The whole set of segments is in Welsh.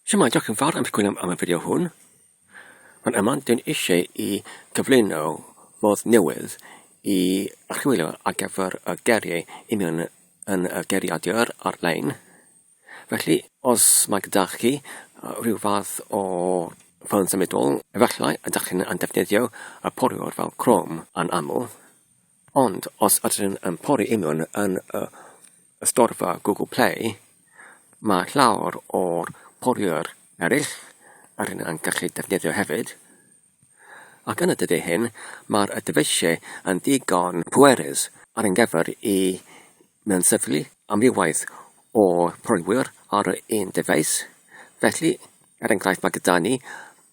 Siamai, diolch yn fawr am sgwyn am, am y fideo hwn. Ond yma, dyn eisiau i gyflwyno modd newydd i archwilio ar gyfer y geriau union yn y geriadur ar-lein. Felly, os mae gyda chi rhyw fath o ffôn symudol, efallai ydych chi'n defnyddio y poriwr fel Chrome yn aml, Ond os ydyn yn pori union yn y storfa Google Play, mae llawer o'r poriwyr eraill ydyn yn gallu defnyddio hefyd. Ac yn y dyddiau hyn, mae'r dyfeisiau yn ddigon pwerus ar ein gyfer i mewnsythlu amrywiaeth o boriwyr ar yr un dyfais. Felly, er enghraifft, mae gyda ni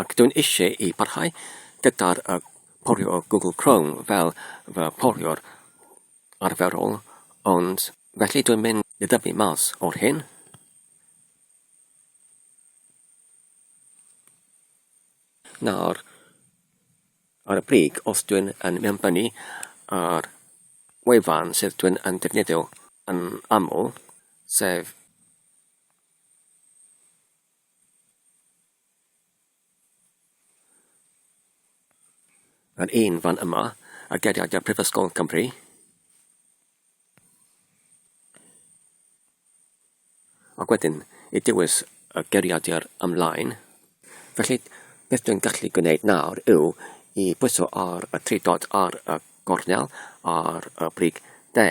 Ac dwi'n eisiau i barhau gyda'r uh, porio Google Chrome fel fy porio'r arferol, ond felly dwi'n mynd i ddyfu mas o'r hyn. Nawr, ar y brig, os dwi'n yn mewnbynnu ar wefan sydd dwi'n yn defnyddio yn aml, sef Yr un fan yma, a geriadau Prifysgol Cymru. Ac wedyn, i dywys y geriadau ymlaen. Felly, beth dwi'n gallu gwneud nawr yw i bwyso ar y tri dod ar y gornel ar y brig de,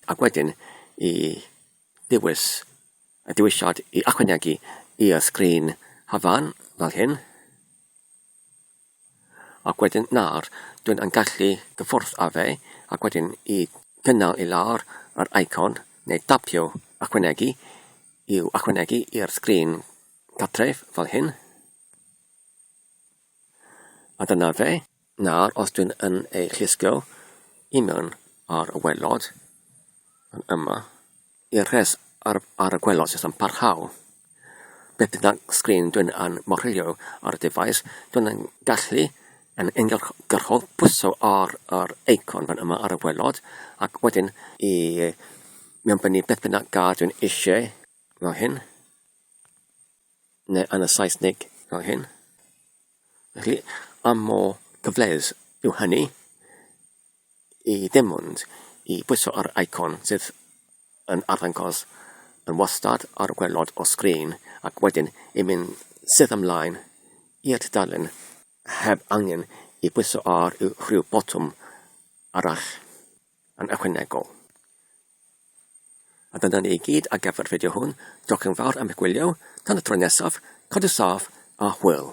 ac wedyn i dewis y dewisiad i ychwanegu i'r sgrin cyfan fel hyn, ac wedyn nawr dwi'n yn gallu gyffwrdd â fe ac wedyn i gynnal i lawr yr icon neu dapio ychwanegu i'w ychwanegu i'r sgrin cartref fel hyn. A dyna fe. Nawr, os dwi'n yn ei llusgo i mewn ar y welod, yn yma, i'r rhes ar, ar y gwelod sy'n parhau. Beth bynnag sgrin dwi'n yn morilio ar y defaid, dwi'n yn gallu yn uniongyrchol pwyso ar yr eicon fan yma ar y welod, ac wedyn i mewnbynnu beth bynnag gad dwi'n eisiau fel hyn. neu yn y Saesneg. Fel hyn. Felly, pa mor gyfleus yw hynny i ddim ond i bwyso ar icon sydd yn arddangos yn wastad ar y gwaelod o sgrin ac wedyn i mynd sydd ymlaen i'r tudalen heb angen i bwyso ar rhyw botwm arall. yn ychwanegol. A dyna ni i gyd ar gyfer y fideo hwn. Diolch yn fawr am eich gwylio. Tan y tro nesaf, cadw saff a hwyl.